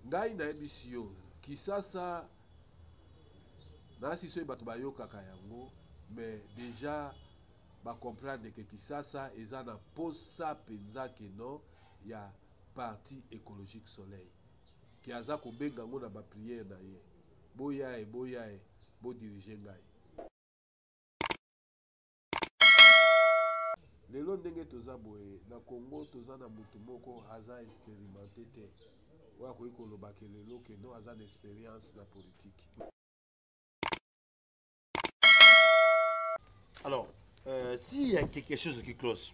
Ngai nayebisi yo, Kisasa nasi soki bato bayokaka yango mais dejà ba comprendre que Kisasa eza na posa penza que non ya parti ecologique soleil que aza kobenga yango na ba prière na ye boyae boyae bo dirige ngai lelo ndenge toza boye na congo toza na motu moko aza experimente te oyo akoki koloba ke lelo ke no aza na experience na politike alors euh, s'il y a quelque chose qui cloche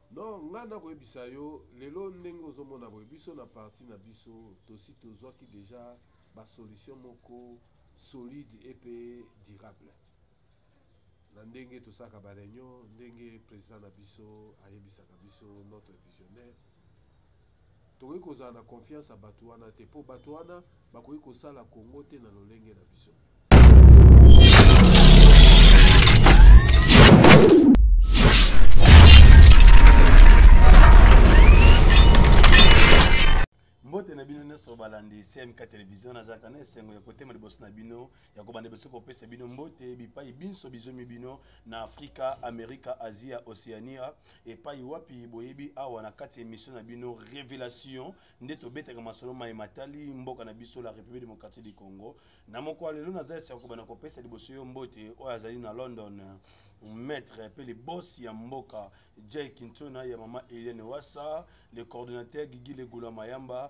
Non nga nako yebisa yo lelo ndenge ozo mona boye biso na parti na biso tosi tozwaki deja ba solution moko solide et pe durable na ndenge tosalaka ba reunion ndenge president na biso ayebisaka biso notre visionnaire Tokoki kozala na confiance ya batu wana te po batu wana bakoki kosala Congo te na lolenge na biso. mbote na bino nyonso balandi cmk television nazalaka na esengo ya kotema liboso na bino yango bande biso kopesa bino mbote bipai binso bizomi bino na afrika amerika asia oceania epai wapi boyebi awa na kati ya emission na bino révélation nde tobetaka masolo mai matali mboka na biso la république démocratique du congo na moko ya lelo naza esika kobanda kopesa liboso yo mbote oyo azali na london maître mpe le boss ya mboka jay kintona ya mama eliane wasa le coordonnateur gigi legula mayamba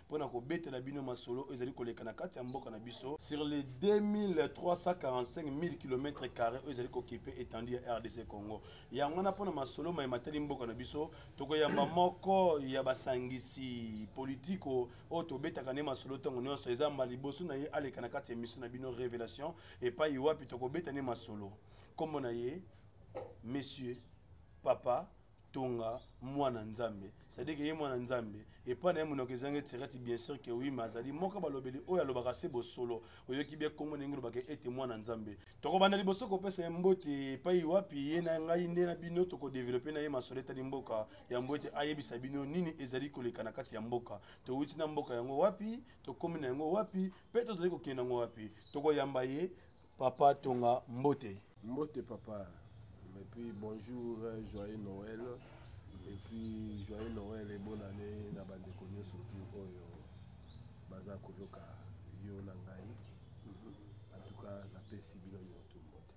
mpo na kobetela bino masolo oyo ezali koleka na kati ya mboka na biso sur les 2345 km carré oyo ezali kokipe etandi ya rdc congo yango wana mpo na masolo mai matali mboka na biso tokoyamba moko ya basangisi politiko oyo tobetaka nde masolo ntango nyonso eza mba liboso na ye aleka na kati ya emission na bino révélation epai wapi tokobeta nde masolo nkombo na ye monsieur papa tonga mwana nzambe c'est-à-dire que ye mwana nzambe epai na ye monoko ezanga etirati bien sûr que oui mais azali moko balobeli oyo alobaka se bosolo oyoki bie nkombo ndenge olobaka ete mwana nzambe tokobanda liboso kopesa ye mbote epai wapi ye na ngai nde na bino tokodevelope na ye masolo etali mboka yango ete ayebisa bino nini ezali koleka na kati ya mboka towuti na mboka yango wapi tokomi na yango wapi mpe tozali kokende yango wapi tokoyamba ye Papa Tonga Mbote. Mbote papa. Et puis bonjour, joyeux Noël. Et puis joyeux Noël et bonne année na bande konyo surtout oyo baza koyoka yo na ngai. Mhm. En tout cas, na pesi bino nyoto mbote.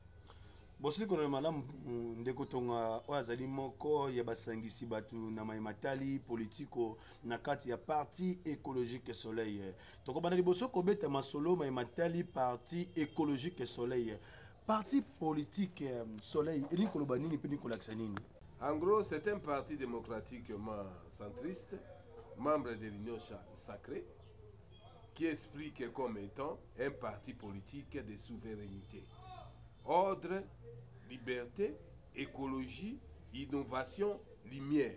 bosili kolona malamu mm, ndeko tonga oyo azali moko ya basangisi bato na mai matali politiko na kati ya parti écologique soleil tokobanda liboso kobeta masolo mai matali parti écologique soleil parti politique euh, soleil elingi koloba nini mpe elingi kolakisa nini en gros c'est un parti démocratiquement centriste membre de l'union sacrée qui explique comme étant un parti politique de souveraineté ordre liberté écologie innovation lumière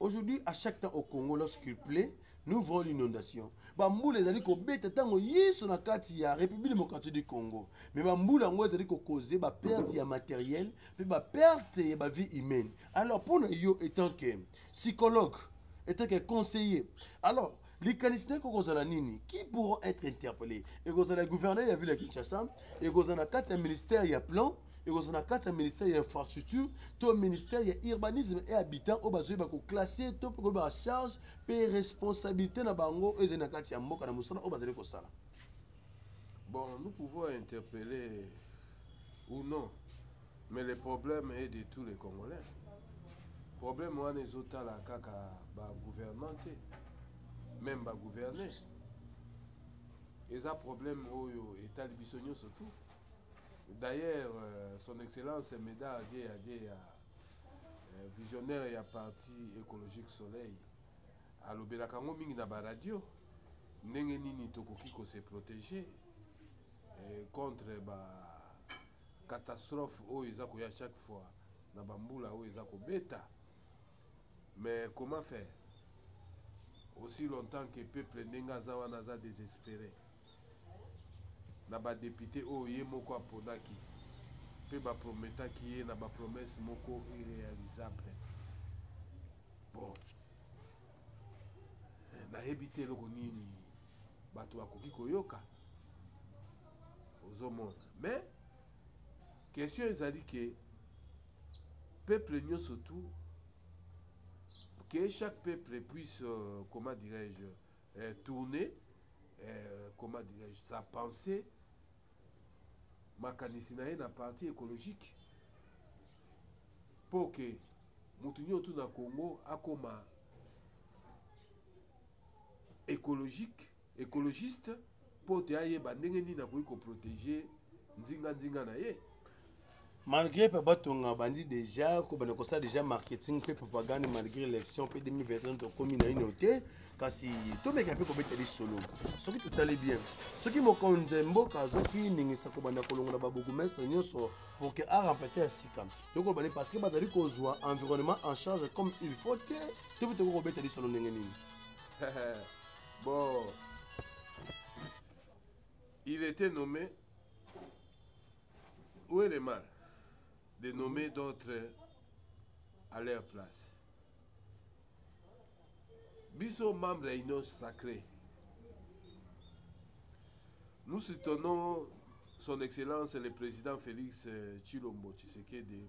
Aujourd'hui, à chaque temps au Congo, lorsqu'il pleut, nous voyons l'inondation. Bamboula ezali kobeta ntango yesu na kati ya république démocratique du congo mais bamboula yango ezali kokoze baperte ya matériel mpe baperte ya bavie humaine alors mpo na yo étant que psychologue étant que conseiller alors likanisi na ekozala nini qui pourront être interpellé ekozala gouverneur ya ville ya kinshasa ekozala na kati ya ministère ya plan ekozala na kati ya ministère ya infrastructure to ministère ya urbanisme et habitant oyo bazoyeba koklasse to mpe koyeba charge mpe responsabilité na bango oyo ezali na kati ya mboka na mosala oyo bazali kosala bon nous pouvons interpeller ou non Mais le problème est de tous les Congolais. Problème wana ezotala kaka ba gouvernement te, même ba gouverner. Eza problème oyo etali biso nyonso tout. D'ailleurs, euh, son excellence Meda Adie Adie ya euh, visionnaire ya parti écologique Soleil alobelaka yango mingi na ba radio ndenge nini tokoki ko se protéger euh, contre ba Catastrophe oyo eza koya chaque fois na ba mbula oyo eza kobeta. Mais comment faire? Aussi longtemps que peuple ndenge aza wana aza desespere na ba depute oyo ye moko aponaki mpe baprometaki ye na bapromese moko irrealisable bon eh, nayebi te eloko nini bato bakoki koyoka ozomona mais question ezali ke peuple nyonso tout que chaque peuple puisse euh, comment dirais-je euh, tourner euh, comment dirais-je sa pensée makanisi na ye na parti écologique mpo ke moto nyonso tout na congo akoma ecologique ecologiste mpo te ayeba ndenge nini akoki koprotege nzinganzinga na ye malgré mpe batonga bandi déjà kobanda kosala déjà marketing mpe propagande malgré élection mpe 2021 tokomi na ino te kasi tomeka mpe kobeta lisolo soki totali bien soki mokonzi ya mboka azwaki ningisa kobanda kolongola babourgmestre nyonso pour que arempete ya sika tokoloba nde parce que bazali kozwa environnement en charge comme il faut te to mpe tokoki kobeta lisolo ndenge nini bon il était nommé où est le mal de nommer d'autres à leur place biso membre ya union sacrée nous soutenons son excellence le président félix euh, tshilombo tshisekedi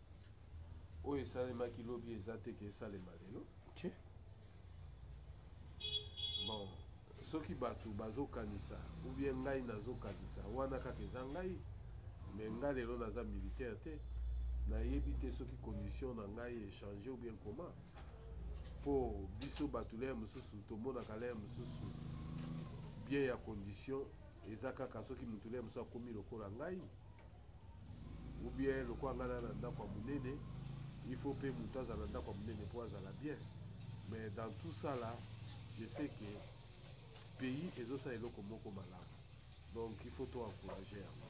oyo esalemaki lobi eza te ke esalema lelo okay. bon soki bato bazokanisa ou bien ngai nazokanisa wana kaka eza ngai me ngai lelo naza militaire te nayebi te soki condition na ngai echange ou bien comment mpo biso bato leye mosusu tomonaka leye mosusu bien ya condition eza kaka soki moto leye mosusu akomi lokola ngai ou bien lokola ngai na na ndako ya monene il faut mpe moto azala na ndako ya monene mpo azala bien mais dans tout ça là je sais que pays ezosala eloko moko malamu donc il faut to encourager yango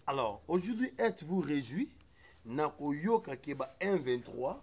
alors aujourd'hui êtes vous réjouis na koyoka ke ba 123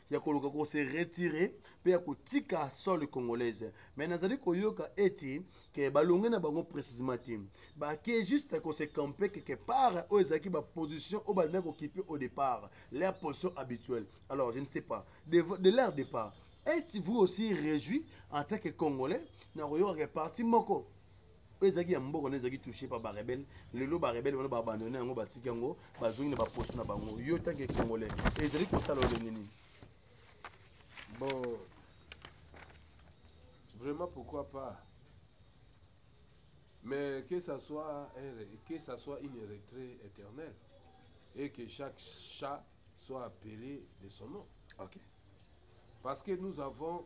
ya koluka ko se retirer mpe ya kotika sole congolaise mais nazali koyoka ete ke balonge na bango précisement te bake juste ko se campe quelque part oyo ezalaki baposition oyo balingaki kokipe au départ leur position habituelle alors je ne sais pas de, de leur départ êtes-vous aussi réjoui en tant que congolais na koyoka ke parti moko oyo ezalaki ya mboka nde ezalaki touche pa barebele lelo barebele wana baabandone yango batiki yango bazongi na baposo na bango yo tanke congolais ezali kosala olenge nini bon vraiment pourquoi pas mais que ça soit un, que ça soit une retraite éternelle et que chaque chat soit appelé de son nom okay. parce que nous avons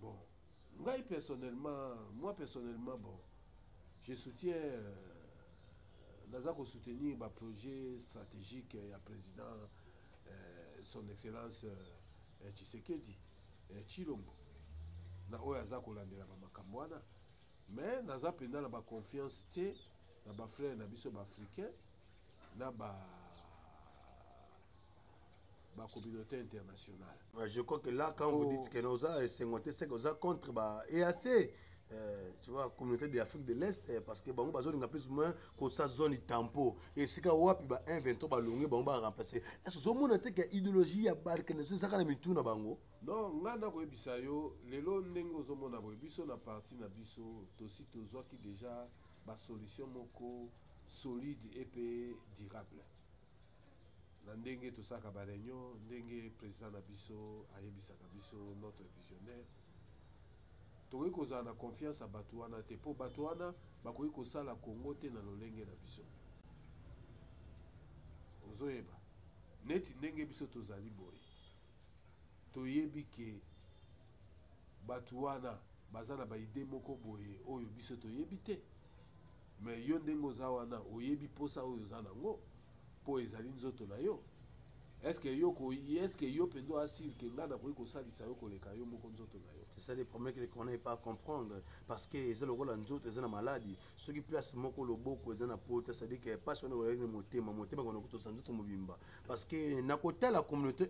Bon, ngai personnellement, moi personnellement, bon, je soutiens, euh, naza ko soutenir ba projet stratégique ya président euh, son excellence euh, Tshisekedi euh, Chilombo na oyo aza kolandela ba makambo wana mais naza mpenza na ba confiance te na ba frère na biso ba africain na ba ba communauté internationale ouais, je crois que là quand oh. vous dites que oza esengo te c'est que oza contre ba EAC Euh, tu vois communauté de l'afrique de l'est euh, parce que bango bazolinga plus moins kosa zone tampo esika wapi ba 1 23 balongi bango baremplace ese ozomona te ke idéologie ya balkanis ezaka na mitu na bango non ngai nakoyebisa yo lelo ndenge ozomona boye biso na parti na biso tosi tozwaki déjà basolution moko solide epe durable na ndenge tosalaka ba reunion ndenge president na biso ayebisaka biso notre visionnaire tokoki kozala na confiance ya bato wana te mpo bato wana bakoki kosala kongo te na lolenge na biso ozoyeba neti ndenge biso tozali boye toyebi ke bato wana baza na baide moko boye oyo biso toyebi te Mais yo ndenge oza wana oyebi posa oyo oza nango po ezali nzoto na yo est-ce que yo ko est-ce que yo penza asir que nga na koyi kosalisa yo koleka yo moko nzoto na yo c'est ça le problème que les connaît pas comprendre parce que eza lokola nzoto eza na maladi soki place moko loboko eza na pota c'est-à-dire que passe wana oyebi motema motema kono kutosa nzoto mobimba parce que na kotala communauté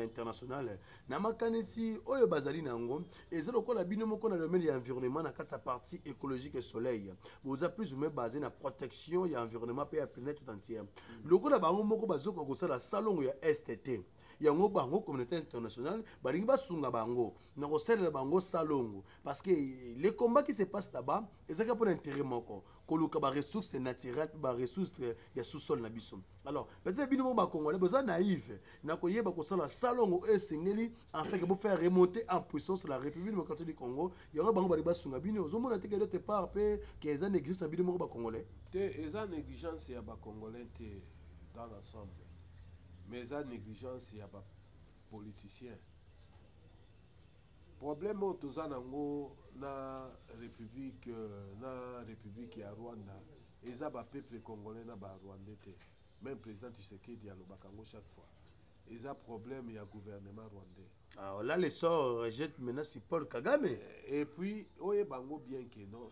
internationale na makanisi oyo bazali na yango eza lokola bino moko na domaine ya environnement na kati ya partie écologique soleil boza plus ou moins basé na protection ya environnement mpe ya planète tout entière lokola bango moko bazokoka kosala salongo ya est te yango bango communauté internationale balingi basunga bango na kosalela bango salongo parce que le combat qui se passe là-bas ezalaki mpo na intérêt moko koluka ba ressources naturelles ba ressources ya sous-sol na biso alors peut-être bino ba congolais boza naïve na koyeba kosala salongo oyo esengeli afin que bo faire remonter en puissance la république démocratique du congo yango bango bali basunga bino ozomona te que d'autre part mpe que eza n'existe na bino moko ba congolais te eza négligence ya ba congolais te dans l'ensemble mais eza négligence ya ba politiciens Problème oyo toza nango na republique na republique ya Rwanda eza ba peuple congolais na ba rwandais te. Même président Tshisekedi alobaka yango chaque fois. Eza problème ya gouvernement rwandais. Ah, on a le sort rejette maintenant si Paul Kagame. Eh, et puis oye bango bien que non.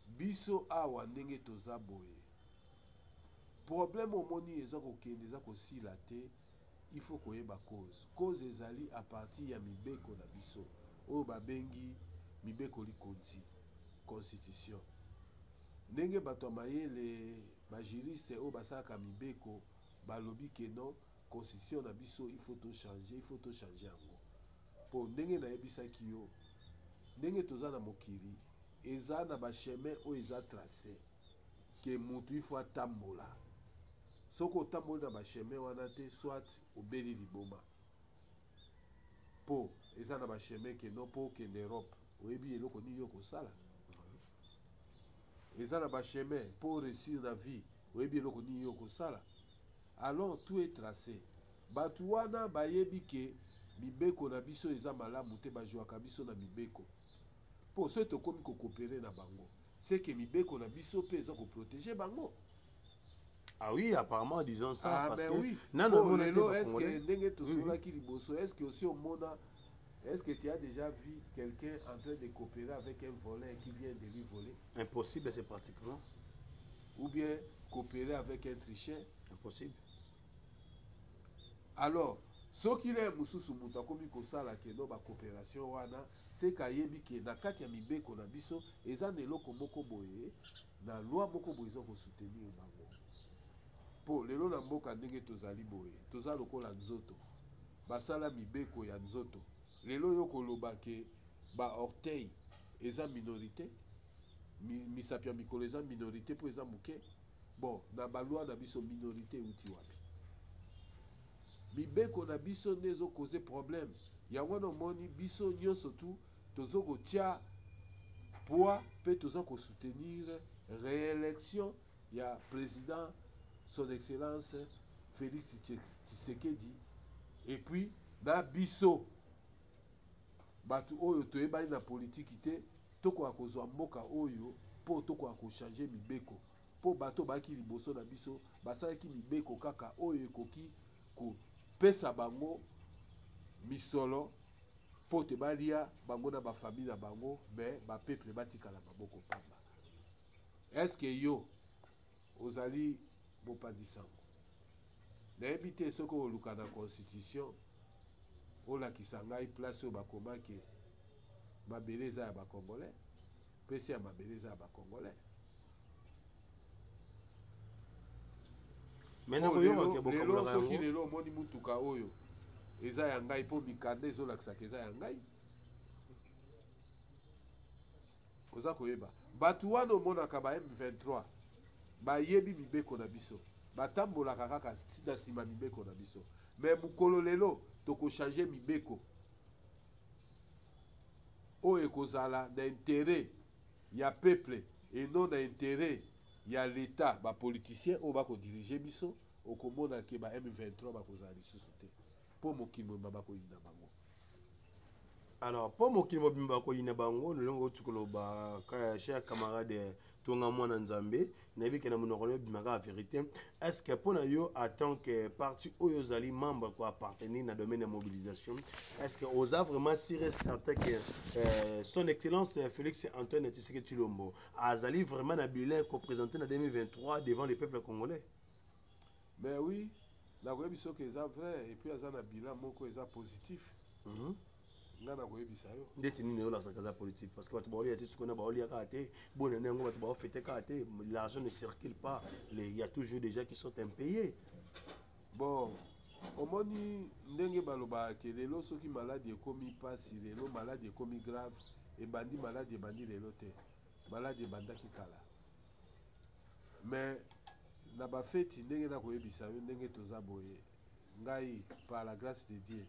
Biso awa ndenge toza boye. Problème omoni eza kokende eza kosila te. Il faut koyeba cause. Cause ezali à partir ya mibeko na biso oyo babengi mibeko likonzi constitution. Ndenge bato ya mayele ba juriste oyo basalaka mibeko balobi ke non constitution na biso il faut to changer, il faut to changer yango mpo ndenge nayebisaki yo ndenge toza na mokili eza na ba chemin oyo eza trace ke mutu il faut atambola soki otamboli na bachemin wana te soit obeli liboma po eza na bachemin ke no po okende europe oyebi eloko nini okosala eza na bachemin po oreussir na vie oyebi eloko nini okosala alors tout est tracé bato wana bayebi ke mibeko na biso eza malamu te bajuaka biso na mibeko mpo soki tokomi kokopere na bango ce que mibeko na biso pe eza ko proteger bango Ah oui, apparemment disant ça ah, parce ben que oui. non non oh, lelo est-ce que ndenge to sola ki liboso est-ce que aussi omona Est-ce que tu as déjà vu quelqu'un en train de coopérer avec un voleur qui vient de lui voler Impossible, c'est pratiquement. Ou bien coopérer avec un tricheur Impossible. Alors, soki na mosusu moto akomi kosala keno bacoopération wana Seke ayebi ke na kati ya mibeko na biso eza na eloko moko boye na loi moko boye eza ko soutenir bango. Po lelo na mboka ndenge tozali boye toza lokola nzoto basala mibeko ya nzoto lelo yo koloba ke ba orteil eza minorite misapi ya mikolo eza minorite po eza muke bon na ba loi na biso minorite ewuti wapi? Mibeko na biso nde ezo cause problème yango wana omoni biso nionso tout tozo ko tia poids pe toza ko soutenir reelection ya president son excellence Felix Tshisekedi et puis na biso batu oyo toyebani na politique te tokoka kozwa mboka oyo po tokoka ko changer mibeko Mpo bato oyo bayaki liboso na biso basalaki mibeko kaka oyo ekoki kopesa bango misolo mpo te balia bango na bafami na bango me bapeple batikala maboko mpamba eske yo ozali mopanzi sango nayebi te soki oluka na constitution olakisa ngai place oyo bakomaki mabele eza ya bacongolais Pese ya mabele eza ya ba congolais. Mais na koyoka ke bokabolaka yango. Soki lelo omoni mutuka oyo eza ya ngai mpo mikanda ezolakisaka eza ya ngai oza koyeba bato wana omonaka ba m23 bayebi mibeko na biso batambolaka kaka na nsima mibeko na biso me mokolo lelo tokochange mibeko oyo ekozala na interet ya peuple et non na interet ya l'etat ba politiciens oyo bako diriger biso okomona ke ba M23 bakozala lisusu te mpo mokili mobimba bakoyina bango alors mpo mokili mobimba bakoyina bango lolenge outi koloba cher camarade to nga mwana nzambe nayebi ke na monoko na yo ebima kaka verité est ce que mpo na yo en tant que parti oyo ozali membre ko appartenir na domaine ya mobilisation est ce que oza vraiment sûr et certain que euh, son excellence euh, félix antoine tshisekedi tshilombo azali vraiment na bilan kopresente na 2023 devant le peuple congolais mais oui nakoyebi soki eza vrai epuis aza na bilan moko eza positif mm -hmm. nga nakoyebisa yo ndeti nini yo nazalaka aza politique parce que bato baolia te sikoyo na baolia kaka te bonene yango bato baofete kaka te l'argent ne circule pas il y a toujours des gens qui sont impayés bon omoni ndenge balobaka ke lelo soki maladi ekomi mpasi lelo maladi ekomi grave ebandi maladi ebandi lelo te maladi ebandaki kala mais na bafeti ndenge nakoyebisa yo ndenge toza boye ngai par la grâce de dieu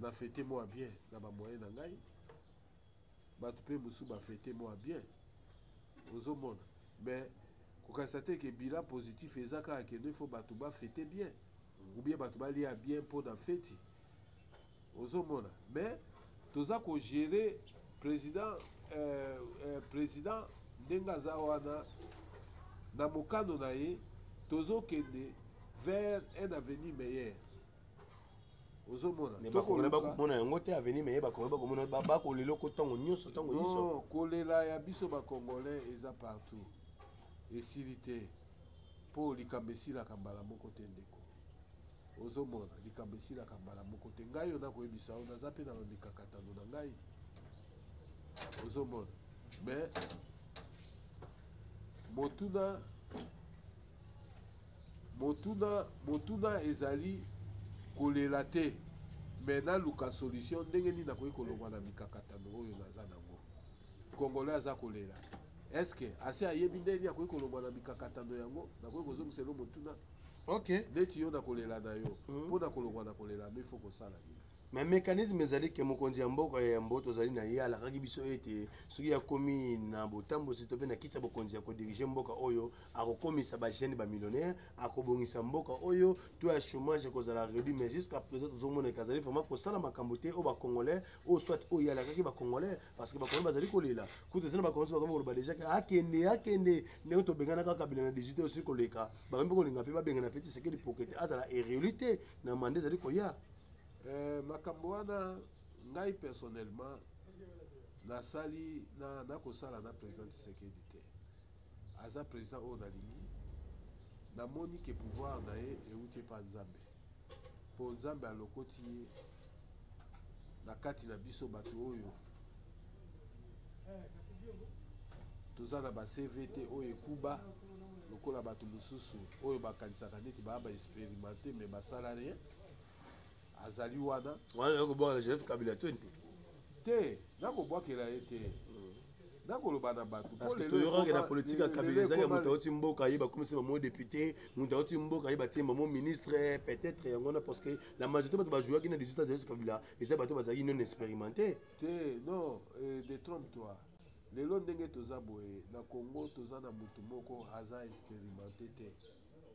Na fete moi bien na ba moyen na ngai. Bato pe mosusu ba fete moi bien. Ozomona. Mais kokanisa te ke bilan positif eza kaka ke ne faut bato ba fete bien. Ou bien bato balia bien mpo na feti. Ozomona. Mais toza ko gérer président euh, euh, président ndenge aza wana na mokano na ye tozokende vers un avenir meilleur ozomona mais bakongela bakomona yango te avenir meye bakongela bakomona bakolela oko ntango nyonso ntango nyonso kolela ya biso bakongolais eza partout esili te mpo likambo esilaka mbala moko te ndeko ozomona likambo esilaka mbala moko te ngai oyo nakoyebisa yo naza mpe na bamikakatano na ngai ozomona mais motuna Motuna, motuna ezali kolela te mais naluka solution ndenge nini nakoki kolongwa na mikakatano oyo naza nango. Congolais aza kolela eske asi ayebi ndenge nini akoki kolongwa na mikakatano yango? Nakoki kozongisa elo motuna okay. Neti yo na kolela na yo mpo hmm. na kolongwa na kolela no ifo kosala nini? me mécanisme ezali ke mokonzi ya mboka ya yambo tozali na ye alakaki biso ete soki akomi na botambwisi to mpe na kiti ya bokonzi ya kodirige mboka oyo akokomisa bajeune bamillionnaire akobongisa mboka oyo to ya chômage ekozala redu mais jusqu'à présent tozomona ete azali vraiment kosala makambo te oyo bacongolais oyo soit oyo alakaki bacongolais parce que bacongolais bazali kolela kutu ezali na bacongolais bakomi koloba deja ke akende akende ndenge tobenganaka kabila na 18 oyo soki koleka bakomi mpe kolinga mpe babengana mpe tisekedi poke te azala erelu te na manda ezali koya Eh, makambo wana ngai personnellement nasali na nakosala na président Tshisekedi te aza président oyo nalingi namoni ke pouvoir na ye euti epa nzambe mpo nzambe alokoti ye na kati na biso bato oyo toza na ba cv te oyo ekuba lokola bato mosusu oyo bakanisaka neti baa ba experimente me basala rien azali wana wana yo kobwaka na joseph kabila to nde te nakobwakela ye te hmm. nakoloba na bato toyokaki na politike ya kabila ezalaki moto auti mboka ye bakomisi bango député moto auti mboka ye batie bango ministre peut-être yango wana parce que la majorité bato bajouaki na 18 ans kabila eza bato bazalaki non expérimenté te non euh, de trompe toi lelo ndenge toza boye na congo toza na motu moko aza expérimenté te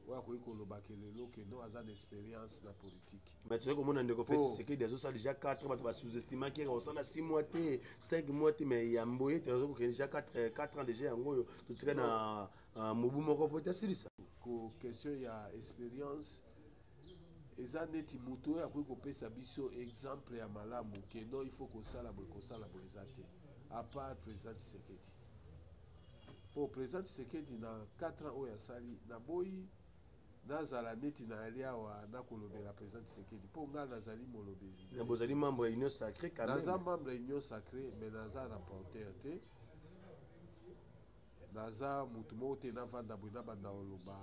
oyo akoki koloba ke lelo ke no aza na experience na politique mais tozali komona ndeko fe tshisekedi azosala deja 4 bato basous-estimaki yaka kosala 6 mois te 5 mois te mais ya mboye te aza kokende deja 4 euh, ans deja yango oyo totika na euh, mobu moko po ete asilisa ko question ya experience eza neti moto oyo akoki kopesa biso exemple ya malamu ke non il faut kosala boye kosala boye eza te apart président tshisekedi Po president Tshisekedi na 4 ans oyo asali na boyi nazala neti na ali awa na kolobela president Tshisekedi po nga nazali molobeli. Na bozali membre ya Union Sacree quand même. Naza membre ya Union Sacree mais naza rapporteur te. Naza mutu moko te na vanda boye na banda oloba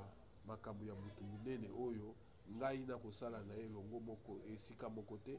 makambo ya mutu munene oyo ngai na kosala na ye longo moko esika moko te.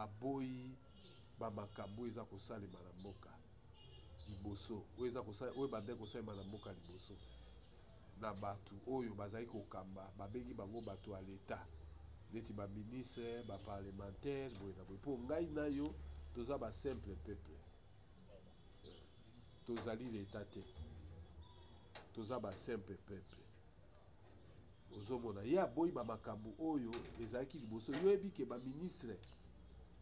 aboyi ba makambo oyo eza kosalema na mboka liboso, oyo eza kosala, oyo ebandaki kosalema na mboka liboso, na bato oyo bazali kokamba, babengi bango bato ya leta neti ba ministre, ba parlementaire, boye na boye. Mpo ngai na yo toza ba simple peuple, tozali leta te, toza ba simple peuple. Ozomona ye aboyi ba makambu oyo ezalaki liboso yo oyebi ke ba ministre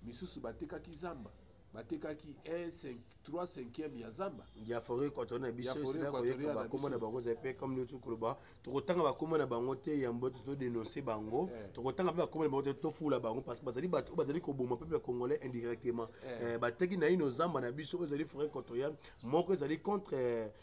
misusu batekaki zamba batekaki 3 cinquième ya zamba ya foret equatorial na biso esila koyeba bakoma na bango ezali mpe comme neuti koloba tokotanga bakoma na bango te yambo te todenonce bango eh. tokotanga mpe bakoma na bango te tofula bango parce que bazali bato oyo bazali koboma peuple congolais indirectement eh. Eh, bateki naino zamba na biso oyo ezali foret equatorial moko ezali contre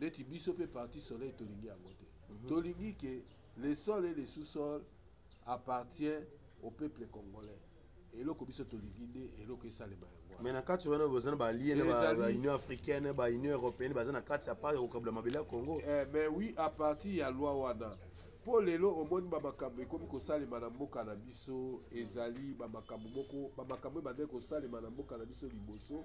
neti biso mpe parti soleil tolingi yango te mhm. tolingi ke le sol et le sous-sol appartient au peuple congolais eloko biso tolingi nde eloko esalema yango mais na kati wana boza na balie na baunion africaine baunion européenne baza na kati ya part ya kokabula mabele ya congo eh, mais oui à partir ya loi wana mpo lelo omoni bamakambo ekomi kosalema na mboka na biso ezali bamakambo moko bamakambo ebandaki kosalema na mboka na biso liboso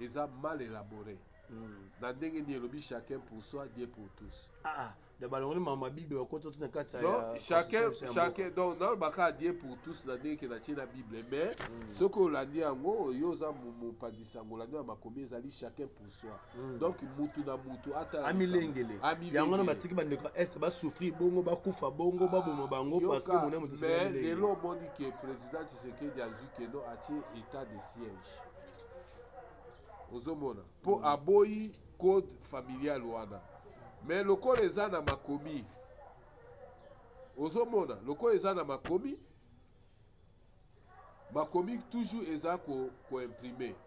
eza mal elabore na ndenge nini elobi chacun pour soi dieu pour tous ah, ah. na balongoli mama bible bakota ti na kati chacun donc nalobaka dieu pour tous na ndenge ke natie na bible mais mm. soki olandi yango yo oza mopandisango olandi na makomi ezali chacun pour soi mm. donc mutu na mutu atamilengele yango na batiki bandeko ya est basouffrir bongo bakufa bongo ah, baboma bango parce que mona motismais lelo omoni ke président tshisekedi azwi keno atie état de siège ozomona mpo mm. aboyi code familial wana me lokola eza na makomi ozomona lokola eza na makomi makomi toujours eza koimprime ko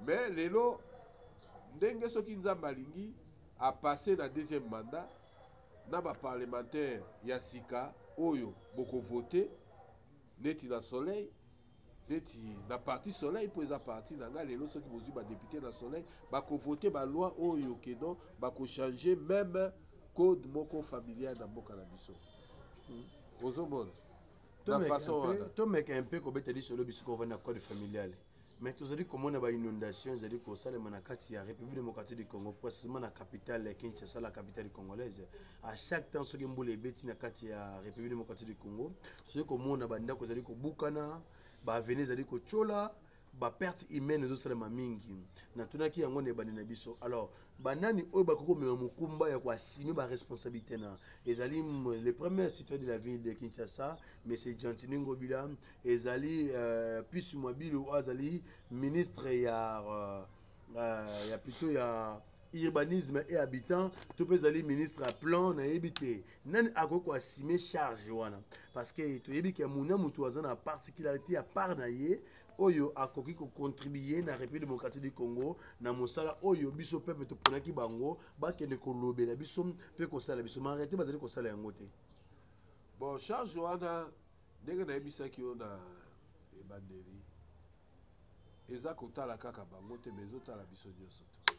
me lelo ndenge soki nzambe alingi apasse na deuxième mandat na baparlementaire ya sika oyo bokovote neti na soleil neti na parti soleil mpo eza parti na ngai lelo soki bozwi badepute na soleil bakovote baloi oyo kedon bakochange meme code moko familial na mboka na biso hmm. ozomona na façon wana tomeka un peu kobeta lisolo bisika ovandi na code familiale mais tozali komona bainondation ezali kosalema na kati ya république démocratique du congo précisément na capitale ya kinshasa la capitale congolaise à chaque temps soki mbula ebeti na kati ya république démocratique du congo tozali komona bandako ezali kobukana baaveni ezali kotyola baperte humaine ezosalema mingi natunaki yango na ebandi na biso alors banani oyo bakoki komema mokumba ya koasime baresponsabilité na ezali le premier citoyen de la ville de kinshasa monsieur gentini ngobila ezali euh, pisu mabilo oyo azali ministre ya euh, euh, ya plutôt ya urbanisme et habitant to mpe ezali ministre ya plan nayebi te nani akoki ko assumer charge wana parce que toyebi ke muna mutu aza na particularité ya part na ye oyo akoki kocontribue na république démocratique du congo na mosala oyo biso peuple toponaki bango bakende kolobela biso mpe kosala biso marete bazali kosala yango te bon charge wana ndenge nayebisaki yo na ebandeli eza kotala kaka bango te mais ezotala biso nyonso te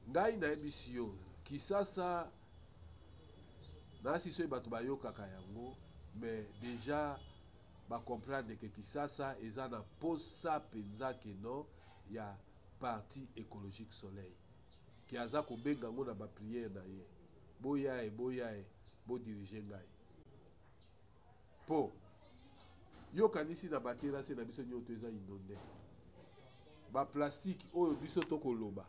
ngai nayebisi yo kisasa nayasi soki bato bayokaka yango mais déjà bacomprendre ke kisasa eza na mposa mpenza kino ya parti écologique soleil ke aza kobenga yango na bapriere na ye boya ye boya ye bodirige ngai Po yo kanisi na ba terrasse na biso nyoto eza inonde? Ba plastique oyo biso toko loba,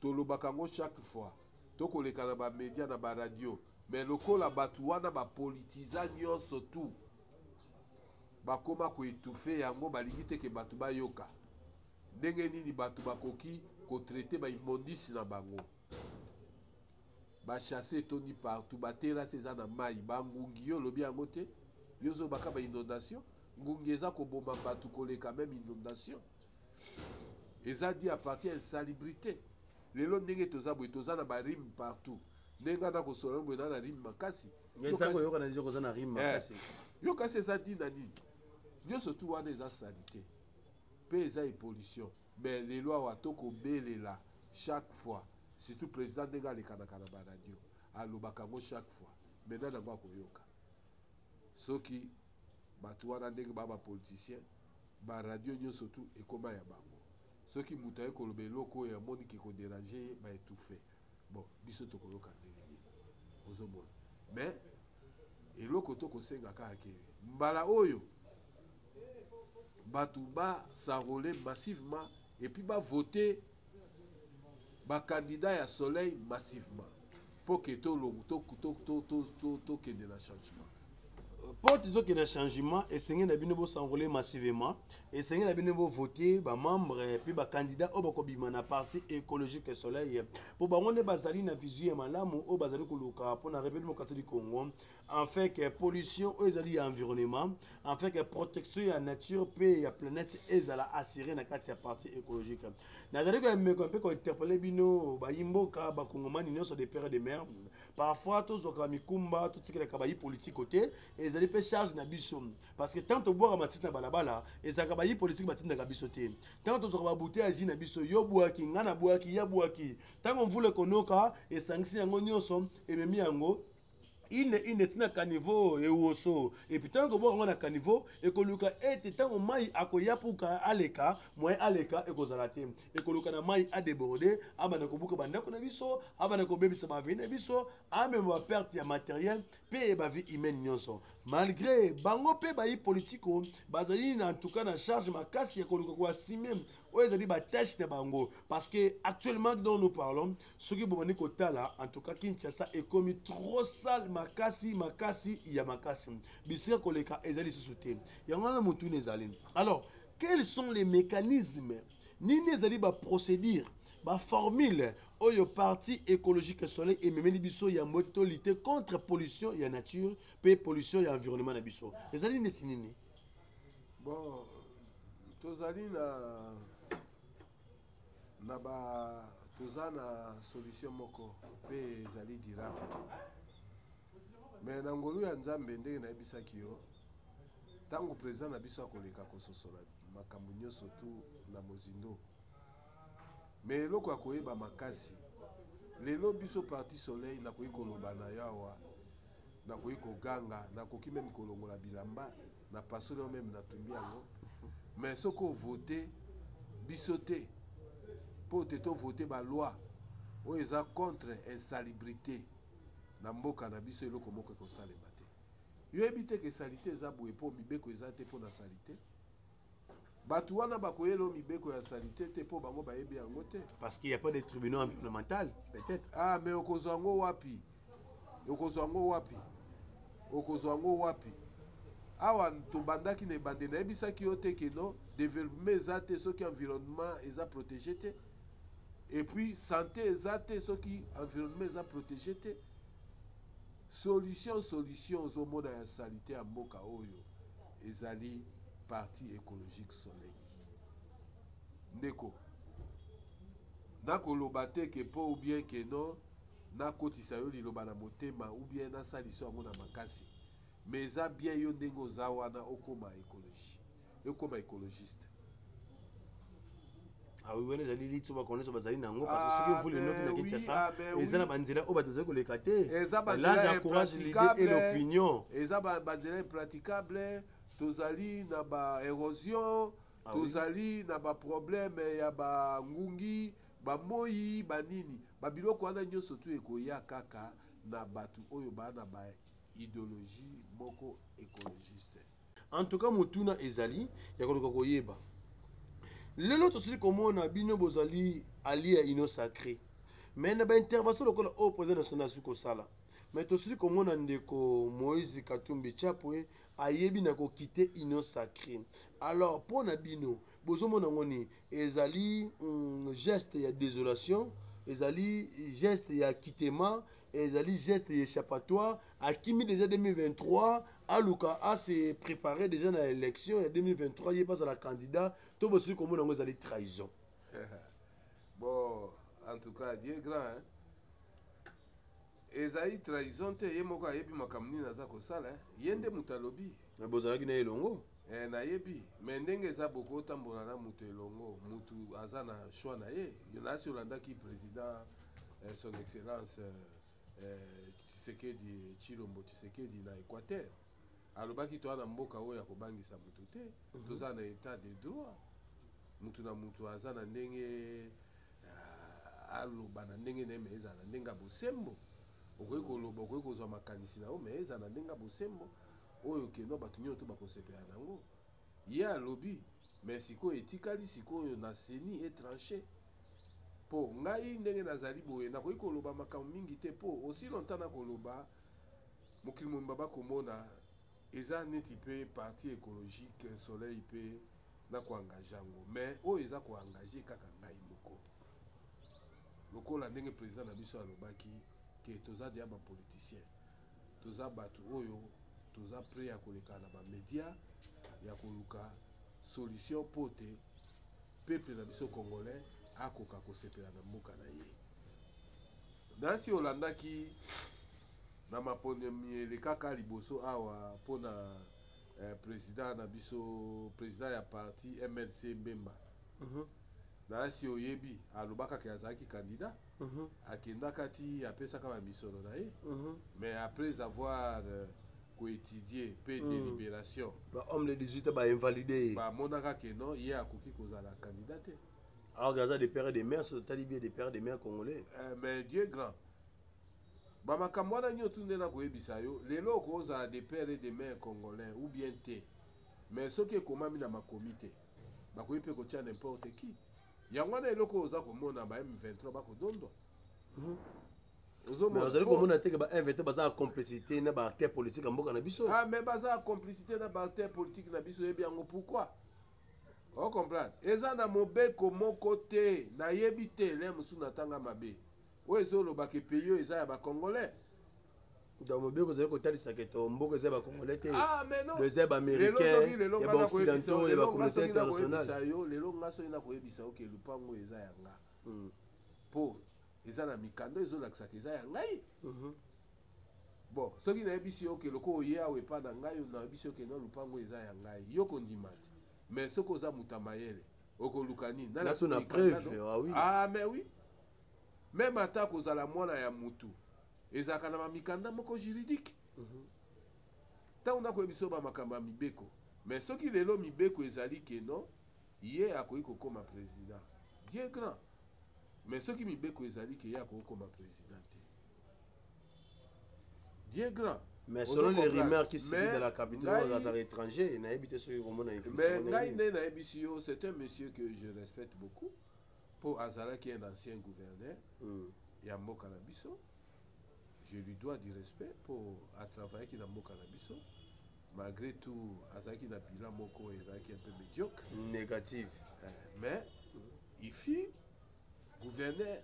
tolobaka yango chaque fois, toko leka na ba media na ba radio, mais lokola batu wana ba politiza nyoso tout, bakoma ko etouffe yango, balingi te ke batu bayoka. Ndenge nini batu bakoki ko traiter ba immondices na bango? Ba chasses etondi partout, ba terrasses eza na mayi, ba ngungi yo olobi yango te? Yo ozobaka ba inondations? Ngungi eza koboma batu koleka meme inondation. Eza dit à partir ya insalubrite. Lelo ndenge toza boye, toza na ba rime partout. Ndenge nga nakosola boye na na rime makasi. Eza koyoka na nzoko oza na rime makasi. Eh, yo kasi eza dit na nini? Nyoso tu wana eza salite. Pe eza epollution. Mais lelo awa to ko belela chaque fois surtout president ndenge alekanaka na ba radio alobaka yango chaque fois mais nani yango ako yoka soki batu wana ndenge ba ba politiciens ba radio nionso tout ekoma ya bango soki mutu aye koloba eloko oyo amoni ki ko deranger ye ba etouffer bon biso tokoyoka ndenge nini ozomona mais eloko tokosenga kaka ke mbala oyo bato basarole massivement epuis bavote bakandida ya soleil massivement mpo ke tokende na changement porte toke na changement esenge na bino bosangola ye massivement esenge na bino bovote bamembre mpe bakandidat oyo bakobima na parti écologique soleil mpo bango nde bazali na vision ya malamu oyo bazali koluka mpo na rebelimo kati du congo enfin que pollution oyo ezali ya environnement enfin que protection ya nature mpe ya planète ezala assure na kati ya parti écologique nazali koyameko mpe kointerpele bino bayimboka bakongomani nyonso de père de mère parfois tozwaka mikumba totikelaka bayi politiko te ezali mpe charge na biso parce que ntango tobwaka matiti na balabala ezalaka bayi politike batindaka biso te ntango tozwaka babute ya ji na biso yo bwaki ngai na bwaki ya bwaki ntango mvula ekonoka esangisi yango nyonso ememi yango ine ine ntina kanivo ewoso epuis ntango ekobwaka yango na kanivo ekoluka ete ntango mai akoya puka aleka moye aleka ekozala te ekoloka na mai adeborde abanda kobuka bandako na biso abanda kobebisa baveni na biso amema baperte ya materiel mpe bavie humaine nyonso malgré bango mpe bayi politiko bazali na ntuka na charge makasi ya koluka koasime oyo ezali batâche na bango parce que actuellement dont nous parlons soki bobandi kotala en tout cas kinshasa ekomi trop sale makasi makasi ya makasi bisika koleka ezali lisusu te yango wana motuna ezali alors quels sont les mécanismes nini ezali baprocédure baformule oyo parti écologique soleil ememeli biso yambo ete tolite contre pollution ya nature mpe pollution ya environnement na biso ezali neti nini bon tozali na na ba toza na solution moko mpe ezali dirable me na ngolu ya nzambe ndenge nayebisaki yo Tango president na biso akoleka kososola makambo nyoso tu na mozindo. Mais eloko ya koyeba makasi lelo biso parti soleil nakoki koloba na yo awa nakoki koganga nakoki meme kolongola bilamba na pasoli yango meme natumbi yango mais soki ovote biso te mpo te tovote baloi oyo eza contre insalubrité na mboka na biso eloko moko ekosalema te Yo oyebi te ke salite eza boye po mibeko eza te pona salite? Batu wana bakoyela yo mibeko ya salite te po bango bayebi yango te. Parce qu'il n'y a pas de tribunaux environnemental peut-être. Ah mais okozwa yango wapi? Okozwa yango wapi? Okozwa yango wapi? awa tobandaki na ebande nayebisaki yo te keno developpement eza te soki environnement eza protege te epuis sante eza te soki environnement eza protege te Solution solution ozo mona ya salite ya mboka oyo ezali parti ecologique soleil ndeko nako loba te ke po ou bien ke non nakotisa yo liloba na motema ou bien nasaliso yango na makasi mais eza bien yo ndenge oza wana okoma ecologie ekoma ecologiste awi ah wana ezali litso bakona nyonso bazali na yango parce que soki mvula enoki na kinshasa eza na banzela oyo bato ezali koleka te l'âge encourage l'idée et l'opinion eza banzela impraticable tozali na ba érosion ah tozali na baproblème ya bangungi bamoyi banini babiloko wana nyonso tu ekoya kaka na bato oyo baa na ba idéologie moko écologiste En tout cas motuna ezali ya koluka koyeba lelo tosili komona bino bozali alie ya union sacré mais na baintervention lokola oyo président national asili kosala mais tosili komona ndeko moïse katumbi chapwe ayebi na kokite union sacré alors mpo na bino bozomona yango nini ezali mm, geste ya désolation ezali geste ya kitema ezali geste y'échappatoire akimi déjà 2023 aluka a se préparer déjà na élection ya 2023 ye pas la candidat to bosili komona yango ezali trahison bon en tout cas dieu grand hein? ezali trahison te ye moko ayebi makambo nini aza kosala ye nde moto alobi me bozalaki na ye elongo eh, nayebi me ndenge eza bokotambola na moto elongo moto aza na choix na ye nasi olandaki président eh, son excellence eh, eh, tshisekedi chilombo tshisekedi na équateur alobaki toa na mboka oyo ya kobangisa motu te mm -hmm. toza na état de droit motu na motu aza na ndenge uh, aloba na ndenge na ye me ezala na ndenge ya bosembo okoki koloba okoki kozwa makanisi na yo me ezala na ndenge ya bosembo oyo keno bato nyonso to bakosepela na yango ye alobi me sikoyo etikali sikoyo na seni etranche Po ngai ndenge nazali boye nakoki koloba makambo mingi te po aussi longtemps nakoloba mokili mobimba bakomona eza neti pe parti ecologique soleil pe nako engage yango mais oyo eza ko engage kaka ngai moko lokola ndenge president na biso alobaki ke toza deja ba politiciens toza batu oyo toza près ya koleka na ba media ya koluka solution po te Peuple na biso congolais akoka kosepela na mboka na ye. Nasi olandaki na maponemi elekaka liboso awa mpo na eh, president na biso president ya parti mlc Mbemba. Uh mhm. -huh. Nasi oyebi alobaka ke azalaki candidat Mhm. akendaka ti apesaka bamisolo na ye mhm. mais après avoir euh, koétudie mpe mhm. délibération bahomme de 18 bainvalide ye bamonaka ke non ye akoki kozala candidat te alors aza de père de mère soki totali bie de père de mère congolais euh, mais dieu grand bamakambo wana nyonso nde nakoyebisa yo lelo okozala de père et de mère congolais ou bien te mais soki ekomami na makomi te bakoki mpe kotya n'importe qui yango wana eloko oyo oza komona ba m23 bakodondwa ozali komona teke ba m23 baza na complicité na baacteur politique ya mboka na biso ah, mais baza na complicité na baacteur politique na biso oyebi yango pourquoi ocomprendre eza na mobeko moko te nayebi te le mosusu natanga mabe Oyo ezo loba ke pays oyo eza ya ba congolais. Donc mobeko ezali kotalisa ke to mboka eza ya ba congolais te. Ah mais non. Eza ya ba américains, ya ba occidentaux, ya ba communauté internationale. Lelo nga soki na koyebisa yo ke lupango eza ya nga. Hmm. Po eza na mikanda ezo lakisa ke eza ya ngai. Mhm. Bon, soki nayebisi yo ke loko oye awa epa na ngai, nayebisi yo ke na lupango eza ya ngai. Yo kondima te. Mais soki oza muta mayele, okoluka nini? Na na preuve. Ah oui. Ah mais oui. Meme ata kozala mwana ya mutu ezalaka na mamikanda moko juridique mhm. ntango mm -hmm. nakoyebiso bamakambo ya mibeko me soki lelo mibeko ezali keno ye akoki kokoma president dieu grand me soki mibeko ezali ke ye akoki kokoma president te dieu grand mais selon les rumeurs qui circulent dans la capitale azalaka étranger nayebi te soki komona mais ngai nde nayebisi yo c'est un monsieur que je respecte beaucoup mm Po azalaki un ancien gouverneur ya mboka na biso. Je lui dois du respect po a travaillaki na mboka na biso. Malgre tout azalaki na bilan moko ezalaki un peu mediocre. Negative. Mais il fut gouverneur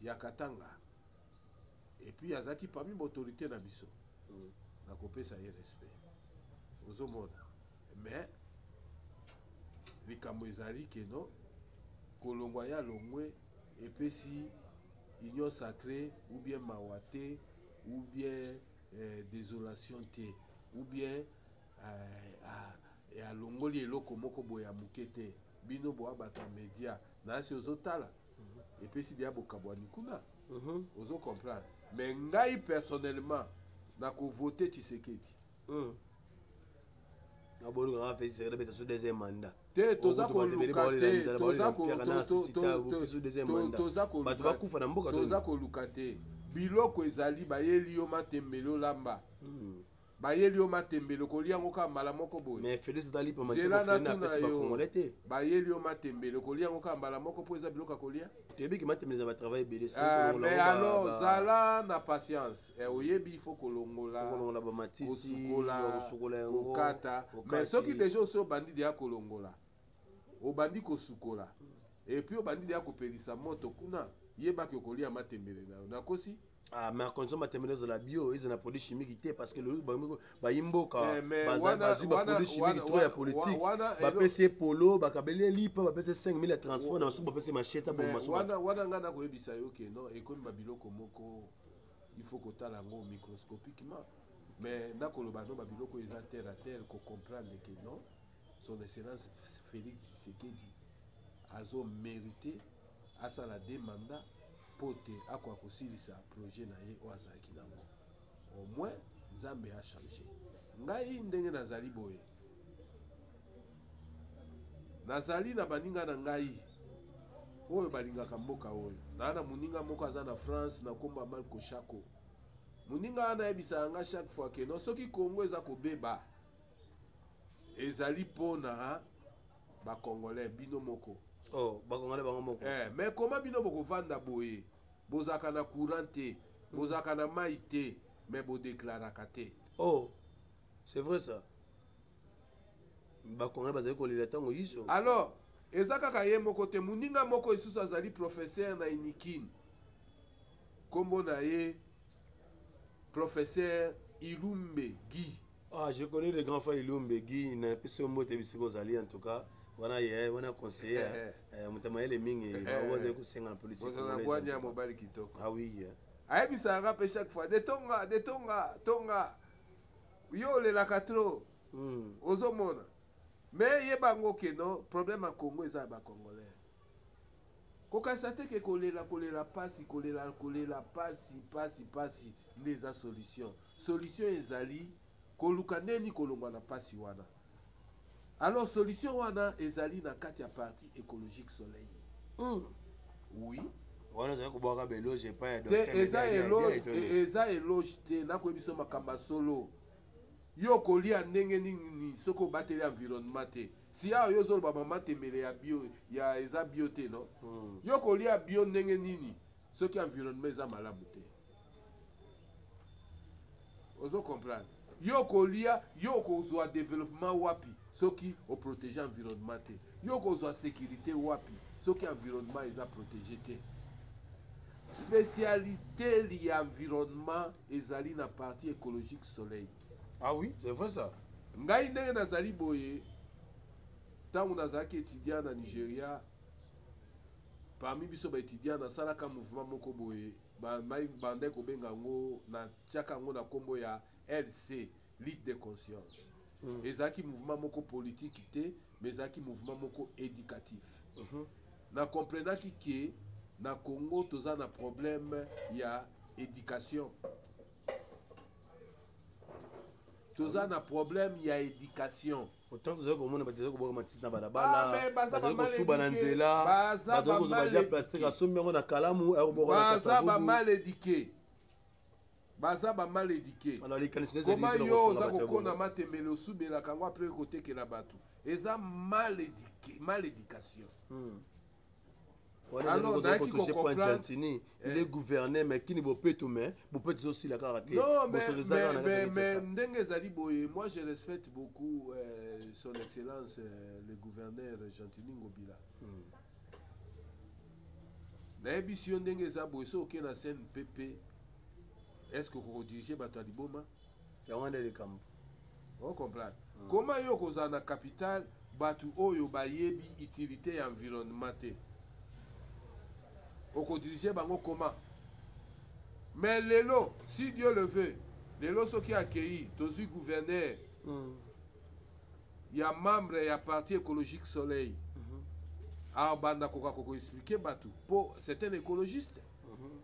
ya Katanga et puis azalaki parmi ba autorites na biso. Nakopesa ye respect. Ozomona? mais likambo ezali keno kolongwa ya longwe epesi union sacrée ou bien mawa te ou bien euh, désolation te ou bien euh, alongoli eloko moko boye ya moke te bino boa bato ya media nasi ozotala mhm. epesi deya bokabwani kuna mhm. ozo comprendre mais ngai personnellement nakovote tshisekedi hmm. aboluka kaka fesi sekele beta so deuxième mandat te toza kolukatetozabato bakufa na mboka toza koluka te biloko ezali bayeli yo matembele olamba hmm. bayeli yo matembele okolia yango kaka mbala moko boyezela natuna yo bayeli yo matembele okolia yango kaka mbala moko mpo eza biloko ya kolia mais alors zala na patience Eh, oyebi il faut kolongola kolongola ba matiti kosukola yango kokata mais soki déjà osi obandi deya kolongola obandi kosukola et puis obandi deya kopelisa moto kuna yebaki okolia matembele na yo nakosi Ah, mais condition matembele ezala bio ezala na produit chimique te parce que lobi bayi mboka eh, bazwi baproduit chimique trop ya politique bapesi ye polo bakabeli ye lipa bapesi 5000 ya transport na basuku bapesi machete aboma wana ngai nakoyebisa yo ke non ekomi babiloko moko il faut kotala yango microscopiquement mais nakoloba no babiloko eza terre à terre kocomprendre ke non son excellence félix tshisekedi azo mérite asala de mandat mpo te akoka kosilisa projet na ye oyo azalaki nango au moins nzambe achange ngai ndenge nazali boye Nazali na baninga na ngai oyo balingaka mboka oyo. Naa na moninga moko aza na France na nkombo ya Malko Shako. Moninga wana ayebisaka ngai chaque fois ke non, soki Congo eza kobeba ezali mpo na bakongolais bino moko oh, bakongolais bango moko eh, mais koma bino bokovanda boye bozalaka na courant te bozalaka na mai te mais bodeklaraka te oh c'est vrai ça bakongole bazali kolela ntango yiso alors eza kaka ye moko te moninga moko lisusu azali professeur na inikini nkombo na ye professeur ilumbe guy ah je connais le grand frère ilumbe guy na pesi yo mbote bisika ozali en tout cas wana ye wana conseiller eh, eh. eh, moto mayele mingi bango bazali kosenga na politikeabwanya ya mobali kitoko ah oui ayebisaka mpe chaque fois de tonga de tonga tonga yo olelaka trop mm. ozomona mais yeba yango keno problème ya congo eza ya bacongolais kokanisa te ke kolela kolela mpasi kolela kolela mpasi mpasi mpasi nde eza solution solution ezali koluka ndeni kolongwa na mpasi wana Alors solution wana ezali na kati ya parti écologique soleil. Mm. Oui. wana ozali kobwaka beloge epai ya eza eloge te nakoyebi biso makambo ya solo yo okolia ndenge nini soki obateli environnement te siya yo ozoloba mama temele ya bio ya eza bio te no hmm. yo okolia bio ndenge nini soki environnement eza malamu te ozo comprendre yo okolia yo okozwa développement wapi soki oprotege environnement te yo okozwa sécurité wapi soki environnement eza protege te spécialité ya environnement ezali na partie écologique soleil ah oui c'est vrai ça ngai ndenge nazali boye ntango nazalaki étudiant na nigeria parmi biso baétudiant nasalaka mouvement moko boye ba mai bandaki kobenga yango na tiaka yango na nkombo ya lc lutte de conscience mm. ezalaki mouvement moko politiki te mais ezalaki mouvement moko éducatif mm -hmm. na comprenaki ke na congo toza na problème ya éducation toza na problème ya éducation otango tozali komona bato ezali kobwaka matiti na balabala ah, bazali kosuba na nzela bazali kozwa baja plastike asombi yango na kalamu akobokabaza bamaledike baza bamaledike koma yo oza kokona matembele osubelaka yango apres kotekela bato eza maledike maledikation hmm. wana ezali kozala kotouche po argentini nde eh. gouverne mais kini bopeto mais bopeto ezosila kaka te bosoto eza kaka na kati ndenge ezali boye moi je respecte beaucoup euh, son excellence euh, le gouverneur gentini ngobila hmm. nayebisi yo ndenge eza boye soki oke na cnpp est ce que okodirige bato ya liboma yango wana nde likambo o comprendre mm. koma yo kozala na capital bato oyo bayebi utilité ya environnement te okodirige bango koma mais lelo si dieu le veut lelo soki akei tozwi gouverneur mm. ya membre ya parti écologique soleil mm -hmm. abanda koka kokoexplike bato mpo c'est un écologiste mm -hmm.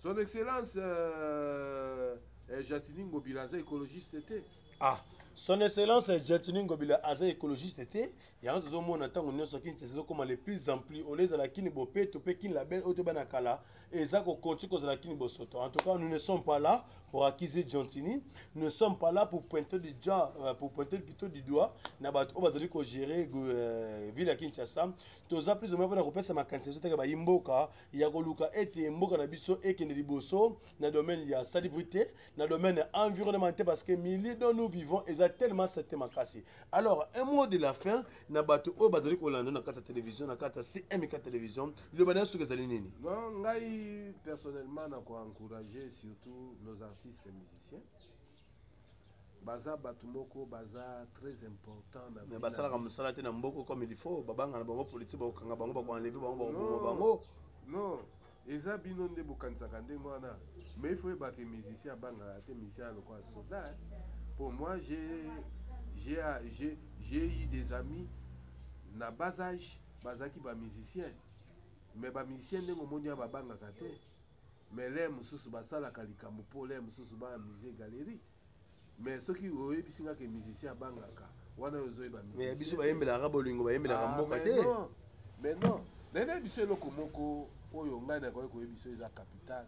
son excellence euh, euh, jatini ngobila aza écologiste te ah son excellence euh, jatini ngobila aza écologiste te yango tozomona ntango nyonso kini ezokoma le plus en plus olie ezala kini bopeto mpe kini label oyo toyeba na kala eza kokontinue kozala kini bosoto en tout cas nous ne sommes pas là pour accuser jantini nous ne sommes pas là pour pointer du doigt euh, pour pointer plutôt du doigt na bato oyo bazali kogere euh, ville ya kinshasa toza plus ou moins mpona kopesa makanisi ezotaka bayi mboka ya koluka ete mboka na biso ekende liboso na domaine ya salubrité na domaine environnement te parce que milieu dont nous vivons eza tellement sete makasi alors un mot de la fin na bato oyo bazali kolanda na kati ya télévision na kati ya cmk télévision liloba na yo soki ezali nini non ngai personnellement na koencourage surtout nos artistes musiciens baza batu moko baza très important na mais basalaka mosala te na mboko comme il faut babanga na bango politique bakokanga bango bakoenleve bango bakoboma bango non eza bino nde bokanisaka ndenge wana mais ifo oyeba ke musicien abangaka te musicien ya lokola soda pour moi j'ai eu des amis na bas age bazalaki bamusicien mais bamusicien ndenge omoni ya babangaka te Mais lait mususu basalaka likambo po lait mususu ba amuser galerie. Mais soki oyebisi nga ke musicien abangaka wana yo ozoyeba musicien. Mais biso bayembelaka bolingo bayembelaka ah, mboka te. Mais non, mais na biso eloko moko oyo ngai nakoki koyebisa eza capital.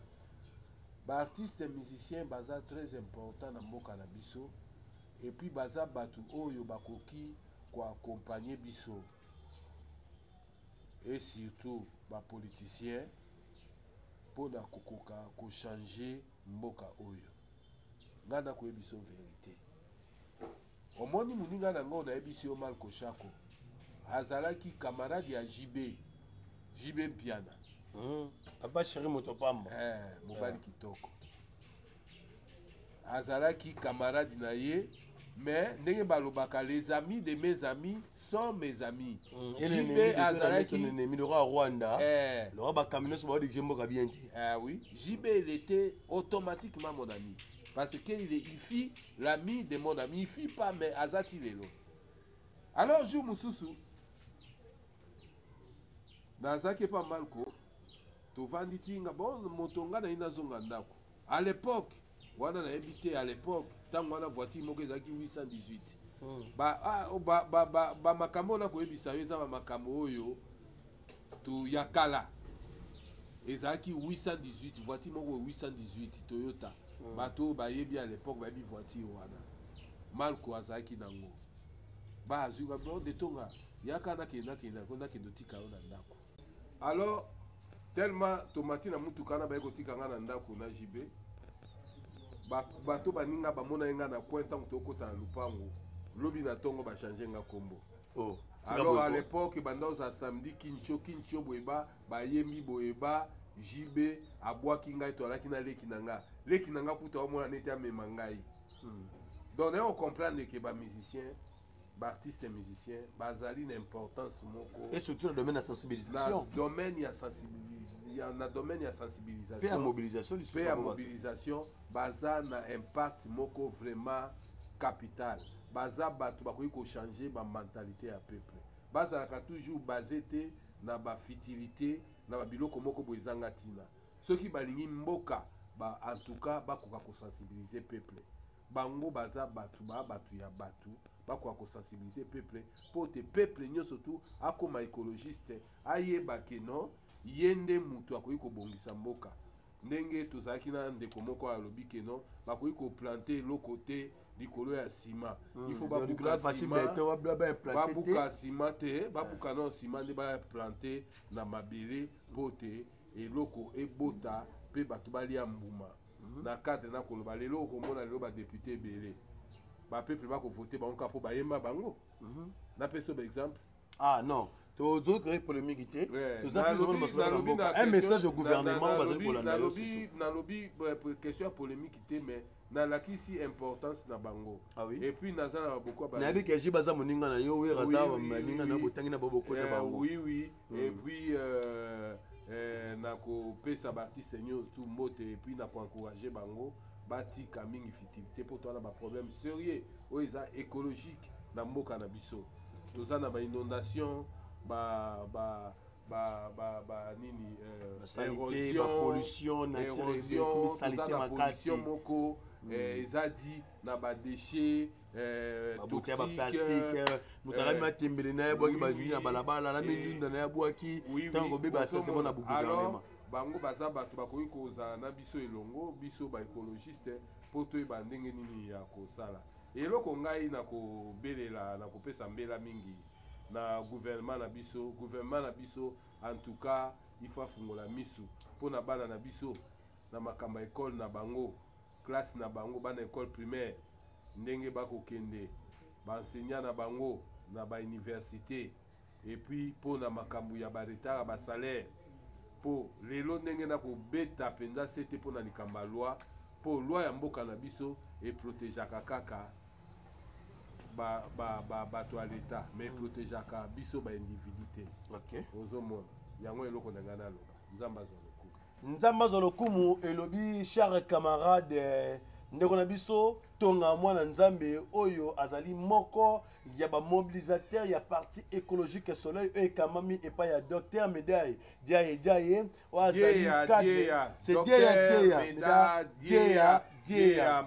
Ba artistes musiciens baza très important na mboka na biso et puis baza batu oyo bakoki ko accompagner biso et surtout ba politiciens pona kokoka ko change mboka oyo nga na koyebiso verite omoni moninga na ngo nayebisi yo malko shako azalaki camarade ya jb jb mpiana hmm. papa sheri moto pamba eh, mobali eh. kitoko azalaki camarade na ye mais ndenge balobaka les amis de mes amis sont mes amis mm, jp azalaki milora rwanda eh. lora bakambi nyonso baodigije mboka bien te eh, oui jp il était automatiquement mon ami parce que il, est, il fit l'ami de mon ami il fit pas mais azati lelo alors jour mosusu Nazalaki epa Malko tovandi ti nga bon moto nga naye nazonga ndako à l'époque wana nayebi te à l'époque ntango wana voiture moko ezalaki 818 hmm. bamakambo ba, ba, ba, ba, ba oyo nakoyebisa yo eza bamakambo oyo to ya kala ezalaki 818 voiture moko 818 toyota hmm. bato oyo bayebi à l'époque bayebi voiture wana malko azalaki nango bazwi ba bord de tonga yaka nakende nakende yango nakende otika yo na ndako alors tellement tomati na motuka na baye kotika ngai na ndako na jb bato baninga bamona ye ngai na coin ntango tokota na lopango lobi na ntongo bachange nga nkombo oh, alors à l'époque banda oza samedi kincho kincho boyeba bayembi boyeba jb abwaki ngai to alaki na leki na nga leki na nga kuta omona neti amema ngai Hmm. Donc naye ocomprendre ke ba musicien baartiste musicien bazali na importance moko et surtout na domaine ya sensibilisation na domaine ya sensibilisation na domaine ya sensibilisation pe ya mobilisation lisusu pe ya mobilisation baza na impact moko vraiment capital baza bato bakoki kochanger bamentalité ya peuple bazalaka toujours base te na bafitilité na babiloko moko boye ezanga ntina Soki balingi mboka ba en tout cas bakoka ko sensibiliser peuple bango baza batu ba batu ya batu bakoka ko sensibiliser peuple mpo te peuple nyonso tu akoma ecologiste ayeba ke non ye nde mutu akoki kobongisa mboka ndenge tozalaki na ndeko moko alobi ke non bakoki koplante eloko te likolo ya sima hmm, ifo babuka sima te babuka ah. no sima nde baplante na mabele mpo te eloko ebota mpe bato balia mbuma mhm. na cadre na koloba lelo okomona lelo badepute ebele bapeuple bakovote bango kaka mpo bayemba bango mhm. napesa ba exemple ah non tozoki koyei polemiki te toza plusomoni masolo na mboka un message au gouvernement bazali kolanda yo nalobi euh, question ya polemiki te mais nalakisi importance na bango ah oui? et puis naza na baboko nayebi keji baza moninga na yo wera aza moninga na botangi na baboko na eh, bango oui, oui. mm. et puis euh, euh, na kopesa baartiste nyonso tu mbote et puis na koencourage bango batika mingi fitilité mpo toza na baproblème sérieux oyo eza écologique na mboka na biso toza na bainondation ba, ba, ba, ba, ba nini euh, pollution naturelle moko mm. eh, eza dit na badéchet Eh, babuta ya baplastike eh, moto alami matembele eh, na ye abwaki bazwi na balabala alami ndunda na ye abwaki ntango kobeba asatema na boguvernema bango baza bato bakoki kozala na biso elongo biso baekologiste mpo toyeba ndenge nini ya kosala eloko ngai na kobelela na kopesa mbela mingi na guvernema na biso guvernema na biso en tout cas ifo afungola misu mpo na bana na biso na makambo ya ekole na bango classe na bango, bana ecole primaire, ndenge ba ko kende, ba enseignants na bango na ba universites, et puis po na makambu ya ba retard ya ba salaires, po lelo ndenge na ko beta penza sete po na likambo ya loi, po loi ya mboka na biso e protegeaka kaka ba, ba, ba, bato ya l'etat, mais e protegeaka biso ba individus te. Okay. Ozo mona? Yango eloko na ngai naloba. Nzambe azwa lokumu. nzambe azwa lokumu elobi char camarade ndeko na biso tonga mwana nzambe oyo azali moko ya bamobilisateur ya parti écologique soleil oyo ekamami epai ya docteur medaille diaye diaye oyo azali dieya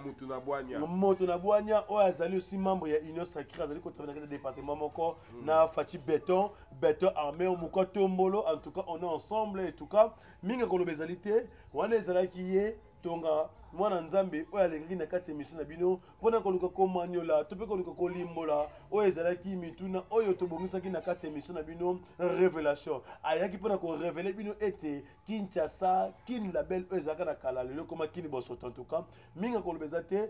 moto na bwania oyo azali osi membre ya union sacré azali kotabela kati ya département moko mm. na faci beton beton armé au moka tombolo en tout cas on est ensemble et tout cas mingi koloba ezali te wana ezalaki ye tonga mwana nzambe oyo alingaki na kati ya emission na bino mpo na koluka komanyola to mpe koluka kolimbola oyo ezalaki mituna oyo tobongisaki na kati ya emission na bino révélation ayaki mpo na korevele bino ete kinshasa kin label oyo ezalaka na kala lelo ekoma kini bosoto en tout cas mingi akoloba eza te